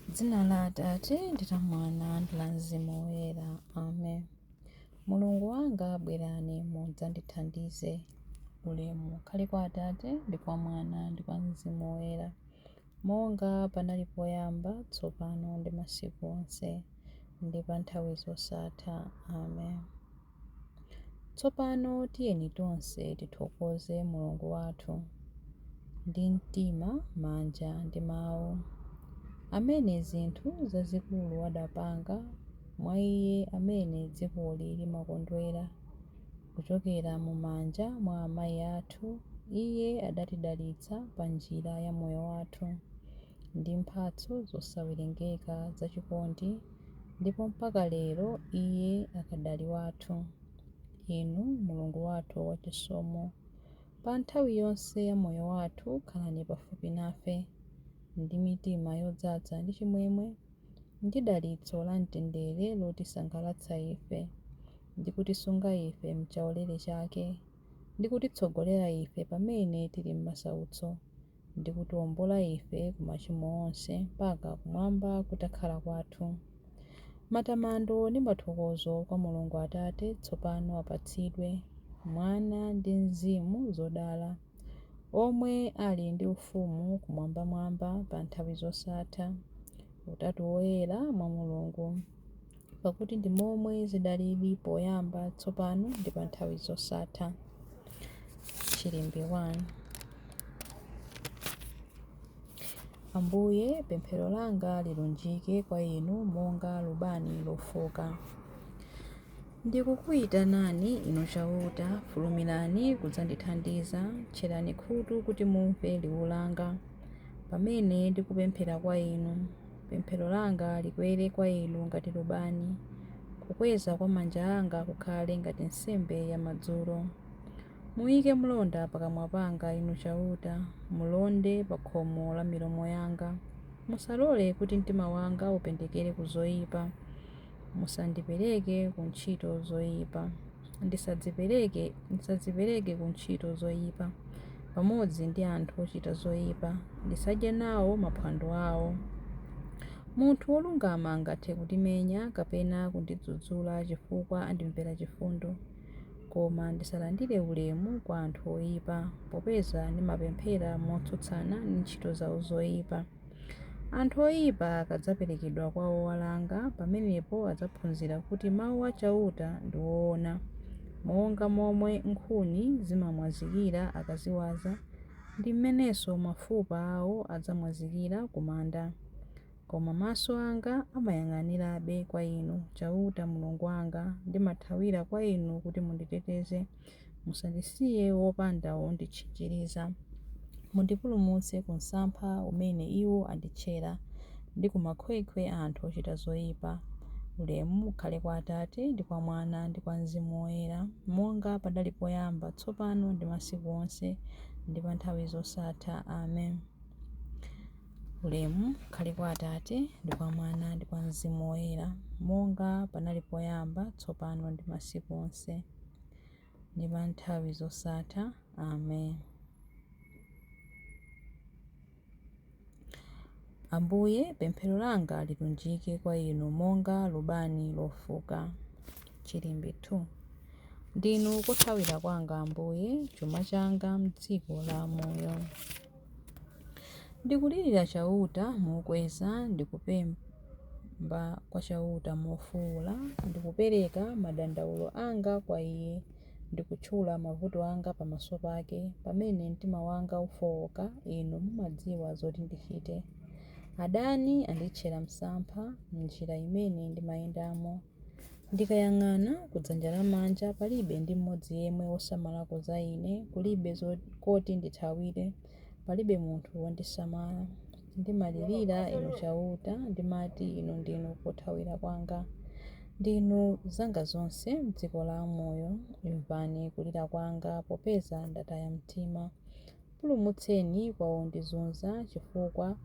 M'dzina la Atate, ndi la Mwana, ndi la Mzimu Woyera. Amen. Mulungu wanga, bwerani mudzandithandize. Ulemu ukhale kwa Atate, ndi kwa Mwana, ndi kwa Mzimu Woyera, monga panali poyamba, tsopano, ndi masiku onse, ndi pa nthawi zosatha. Amen. Tsopano tiyeni tonse tithokoze Mulungu wathu ndi mtima, manja, ndi mawu, amene zinthu zazikulu adapanga mwa iye amene dzikoli limakondwera. Kuchokera mu manja mwa amayi athu iye adatidalitsa pa njira ya moyo wathu. ndi mphatso zosawerengeka za chikondi, ndipo mpaka lero Iye akadali wathu. Inu Mulungu wathu wachisomo, pa nthawi yonse ya moyo wathu khalani pafupi nafe, ndi mitima yodzaza ndi chimwemwe ndi dalitso la mtendere lotisangalatsa ife, ndi kutisunga ife m'chaulere chake, ndi kutitsogolera ife pamene tili m'masautso, ndi kutiombola ife ku machimo onse mpaka kumwamba kutakhala kwathu. Matamando ndi mathokozo kwa Mulungu Atate tsopano apatsidwe, Mwana ndi Mzimu zodala, omwe ali ndi ufumu kumwambamwamba pa nthawi zosatha. Utatu Woyera mwa Mulungu. pakuti ndi momwe zidalili poyamba, tsopano ndi pa nthawi zosatha. Chilimbi 1 Ambuye, pemphero langa lilunjike kwa Inu monga lubani lofuka. Ndikukuyitanani Inu Chauta, fulumirani kudzandithandiza, tcherani khutu kuti mumve liwu langa, pamene ndikupemphera kwa Inu. Pemphero langa likwere kwa inu ngati lubani, kukweza kwa manja anga kukhale ngati nsembe yamadzulo. Muyike mlonda pakamwa panga Inu Chauta, mulonde pa khomo la milomo yanga. Musalole kuti mtima wanga upendekere ku zoipa, musandipereke ku ntchito zoipa. ndisadzipereke ndisadzipereke ku ntchito zoyipa pamodzi ndi anthu ochita zoyipa, ndisadye nawo maphwando awo. Munthu wolungama angathe kundimenya kapena kundidzudzula chifukwa andimvera chifundo, koma ndisalandire ulemu kwa anthu oyipa, popeza ndimapemphera motsutsana ndi ntchito zawo zoyipa. Anthu oyipa akadzaperekedwa kwa owalanga, pamenepo adzaphunzira kuti mawu a Chauta ndi oona. Monga momwe nkhuni zimamwazikira akaziwaza, ndi m'menenso mafupa awo adzamwazikira ku manda. Koma maso anga amayang'anirabe kwa Inu, Chauta Mulungu wanga, ndimathawira kwa Inu kuti munditeteze. Musandisiye wopanda wonditchinjiriza. Mundipulumutse ku msampha umene iwo anditchera, ndi ku makhwekhwe a anthu ochita zoipa. Ulemu ukhale kwa Atate, ndi kwa Mwana, ndi kwa Mzimu Woyera, monga panali poyamba, tsopano, ndi masiku onse, ndi pa nthawi zosatha. Amen. Ulemu ukhale kwa Atate, ndi kwa Mwana, ndi kwa Mzimu Woyera, monga panali poyamba, tsopano, ndi masiku onse. ndi pa nthawi zosatha. Amen. Ambuye, pemphero langa lilunjike kwa inu monga lubani lofuka. Chilimbi 2 Ndinu kothawira kwanga Ambuye, chuma changa m'dziko la amoyo. Ndikulirira Chauta mokweza, ndikupemba kwa Chauta mofuula. Ndikupereka madandaulo anga kwa Iye, ndikutchula mavuto anga pamaso pake. Pamene mtima wanga ufooka, Inu mumadziwa zoti ndichite. Adani anditchera msampha m'njira imene ndimayendamo. Ndikayang'ana kudzanja lamanja, palibe ndi mmodzi yemwe wosamalako za ine, kulibe koti ndithawire, palibe munthu wondisamala. Ndimalirira Inu Chauta, ndimati, Inu ndinu kothawira kwanga. Ndinu zanga zonse m'dziko la amoyo. Imvani kulira kwanga, popeza ndataya mtima. Pulumutseni kwa wondizunza, chifukwa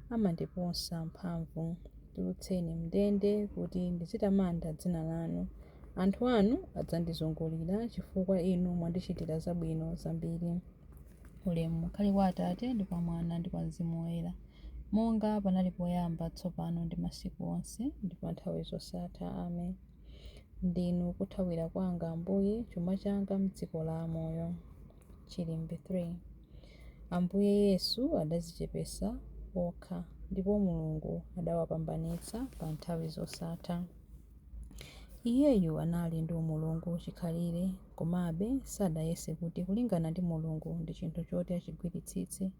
amandiposa mphamvu. Tulutseni m'ndende kuti ndizitamanda dzina lanu. Anthu anu adzandizungulira, chifukwa inu mwandichitira zabwino zambiri. Ulemu ukhale kwa Atate, ndi kwa Mwana, ndi kwa Mzimu Woyera, monga panali poyamba, tsopano ndi masiku onse, ndi pa nthawi zosatha. Amen. Ndinu kothawira kwanga, Ambuye, chuma changa m'dziko la amoyo. Chilimbi 3. Ambuye Yesu adadzichepetsa okha ndipo Mulungu adawapambanitsa pa nthawi zosatha. Iyeyu anali ndi umulungu chikhalire komabe sadayese kuti kulingana ndi Mulungu ndi chinthu choti achigwiritsitse,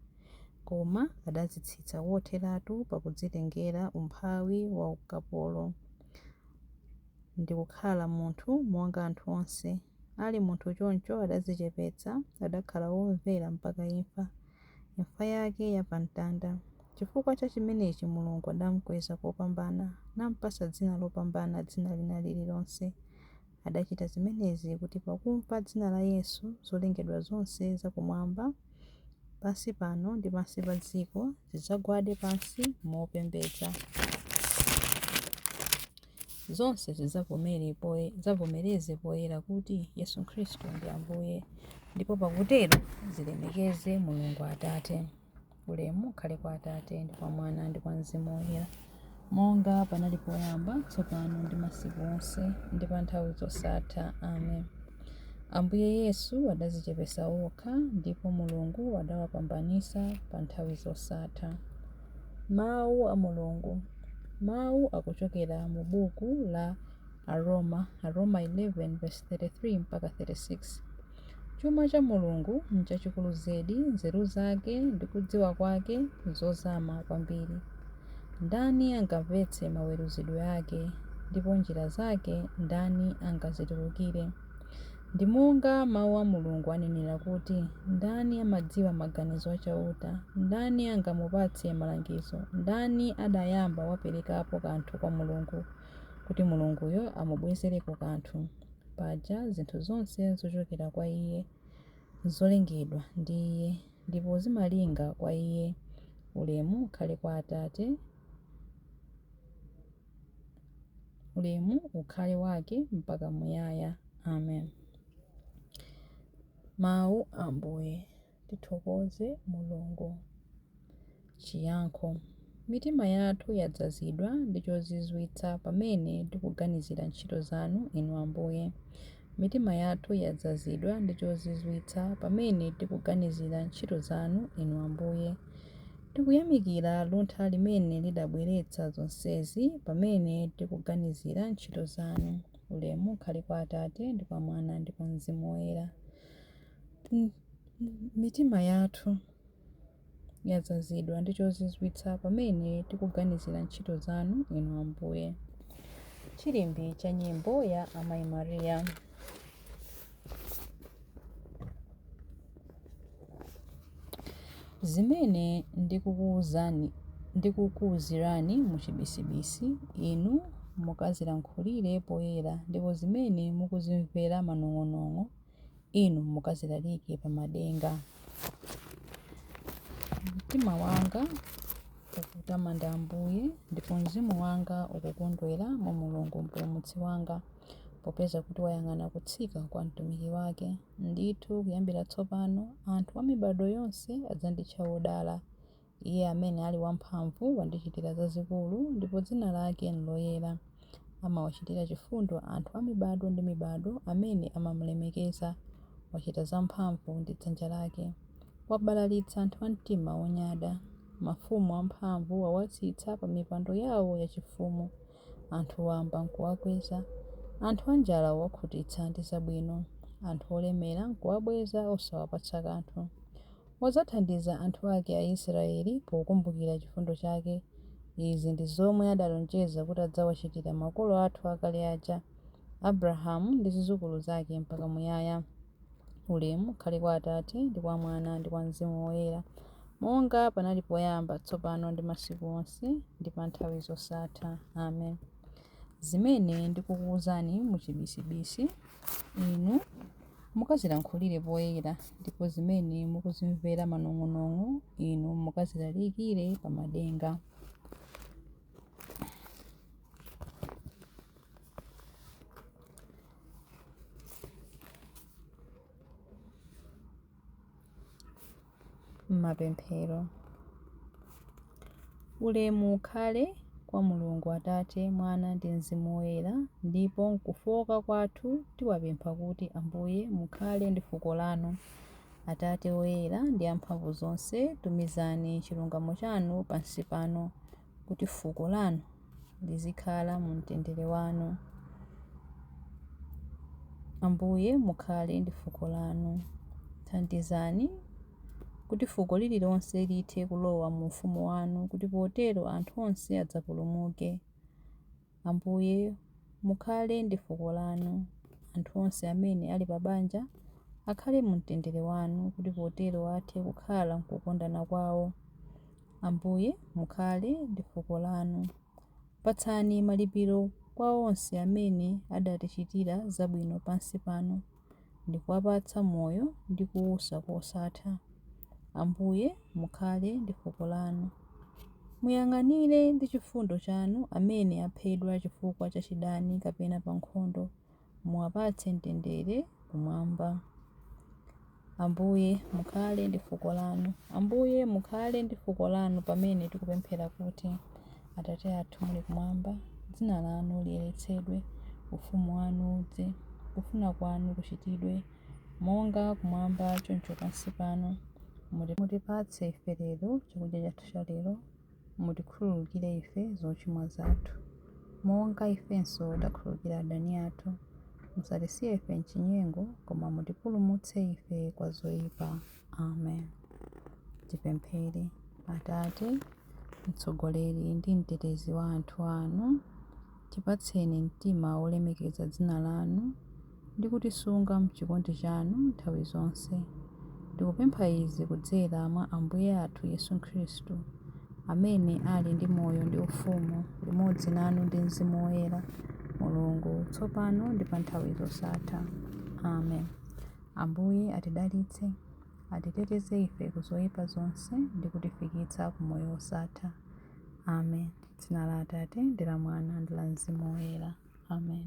koma adadzitsitsa kotheratu pakudzitengera umphawi wa ukapolo ndi kukhala munthu monga anthu onse. Ali munthu choncho adadzichepetsa, adakhala womvera mpaka imfa, imfa yake ya pa mtanda. Chifukwa cha chimenechi Mulungu adamkweza kopambana, nampatsa dzina lopambana dzina lina lililonse. Adachita zimenezi kuti pakumva dzina la Yesu, zolengedwa zonse za kumwamba, pansi pano ndi pansi pa dziko zidzagwade pansi mopembedza. zonse zidzavomere poye- zidzavomereze poyera kuti yesu khristu ndi ambuye ndipo pakutero zilemekeze mulungu atate ulemu ukhale kwa atate ndi kwa mwana ndi kwa mzimu woyera monga panali poyamba tsopano ndi masiku onse ndi pa nthawi zosatha amen ambuye yesu adadzichepetsa okha ndipo mulungu adawapambanitsa pa nthawi zosatha Mawu a Mulungu. Mawu akuchokera mu buku la Aroma, Aroma 11 verse 33 mpaka 36. Chuma cha Mulungu n'chachikulu zedi, nzeru zake ndi kudziwa kwake n'zozama kwambiri. Ndani angamvetse maweruzidwe ake, ndipo njira zake ndani angazitulukire? Ndi monga Mawu a Mulungu anenera kuti, Ndani amadziwa maganizo a Chauta? Ndani angamupatse malangizo? Ndani adayamba waperekapo kanthu kwa Mulungu, kuti Mulunguyo amubwezereko kanthu? Paja zinthu zonse nzochokera kwa Iye, nzolengedwa ndi Iye, ndipo zimalinga kwa Iye. Ulemu ukhale kwa Atate. ulemu ukhale wake mpaka muyaya amen mawu a ambuye tithokoze mulungu chiyankho mitima yathu yadzazidwa ndi chozizwitsa pamene tikuganizira ntchito zanu inu ambuye Mitima yathu yadzazidwa ndi chozizwitsa pamene tikuganizira ntchito zanu, Inu Ambuye. Tikuyamikira luntha limene lidabweretsa zonsezi pamene tikuganizira ntchito zanu. Ulemu ukhale kwa Atate, ndi kwa Mwana, ndi kwa Mzimu Woyera. Mitima yathu. yadzazidwa ndi chozizwitsa pamene tikuganizira ntchito zanu, Inu Ambuye. Chilimbi cha nyimbo ya Amayi Maria. Zimene ndikukuuzani ndikukuuzirani muchibisibisi, inu mukazilankhulire poyera, ndipo zimene mukuzimvera manong'onong'o, Inu mukazilalike pa madenga. Mtima wanga ukutamanda Ambuye, ndipo mzimu wanga ukukondwera mwa Mulungu Mpulumutsi wanga, popeza kuti wayang'ana kutsika kwa mtumiki wake. Ndithu kuyambira tsopano anthu a mibadwo yonse adzanditcha wodala, Iye amene ali wamphamvu wandichitira zazikulu, ndipo dzina lake n'loyera. Amawachitira chifundo anthu a mibado ndi mibado amene amamulemekeza. Wachita zamphamvu ndi dzanja lake. Wabalalitsa anthu a mtima wonyada. Mafumu amphamvu wawatsitsa pamipando yawo yachifumu. Anthu wamba n'kuwakweza. Anthu anjala wawakhutitsa ndi zabwino. Anthu olemera n'kuwabweza osawapatsa kanthu. Wadzathandiza anthu ake Aisraeli pokumbukira chifundo chake. Izi ndi zomwe adalonjeza kuti adzawachitira makolo athu akale aja, Abrahamu ndi zidzukulu zake mpaka muyaya. Ulemu ukhale kwa Atate, ndi kwa Mwana, ndi kwa Mzimu Woyera, monga panali poyamba, tsopano ndi masiku onse, ndi pa nthawi zosatha. Amen. Zimene ndikukuuzani mu chibisibisi, inu mukazilankhulire poyera, ndipo zimene mukuzimvera manong'onong'o, inu mukazilalikire pa madenga. Mapemphero. Ulemu ukhale kwa Mulungu Atate, Mwana ndi Mzimu Woyera, ndipo m'kufooka kwathu tiwapempha kuti, Ambuye, mukhale ndi fuko lanu. Atate Woyera ndi amphamvu zonse, tumizani chilungamo chanu pansi pano kuti fuko lanu lizikhala mu mtendere wanu. Ambuye, mukhale ndi fuko lanu. Thandizani kuti fuko lililonse lithe kulowa mu ufumu wanu kuti potero anthu onse adzapulumuke. Ambuye, mukhale ndi fuko Lanu. Anthu onse amene ali pa banja akhale mu mtendere Wanu, kuti potero athe kukhala m'kukondana kwawo. Ambuye, mukhale ndi fuko Lanu. Patsani malipiro kwa onse amene adatichitira zabwino pansi pano. ndi kuwapatsa moyo ndi kuusa kosatha. Ambuye, mukhale ndi fuko lanu. Muyang'anire ndi chifundo chanu amene aphedwa chifukwa cha chidani kapena pa nkhondo, muwapatse mtendere kumwamba. Ambuye, mukhale ndi fuko lanu. Ambuye, mukhale ndi fuko lanu pamene tikupemphera kuti, Atate athu muli kumwamba, dzina lanu liyeretsedwe, ufumu wanu udze, kufuna kwanu kuchitidwe, monga kumwamba choncho pansi pano. Muti mutipatse ife lero chakudya chathu cha lero. Mutikhululukire ife zochimwa zathu, monga ifenso takhululukira adani athu. Musatisiye ife m'chinyengo, koma mutipulumutse ife kwa zoipa. Amen. Tipemphere. Atate, mtsogoleri ndi mtetezi wa anthu anu, tipatseni mtima wolemekeza dzina lanu ndi kutisunga mchikondi chanu nthawi zonse. Ndikupempha izi kudzera mwa Ambuye athu Yesu Khristu, amene ali ndi moyo ndi ufumu limodzi nanu ndi Mzimu Woyera, Mulungu, tsopano ndi pa nthawi zosatha. Amen. Ambuye atidalitse, atiteteze ife ku zoyipa zonse ndi kutifikitsa ku moyo wosatha. Amen. Dzina la Atate, ndi la Mwana, ndi la Mzimu Woyera. Amen.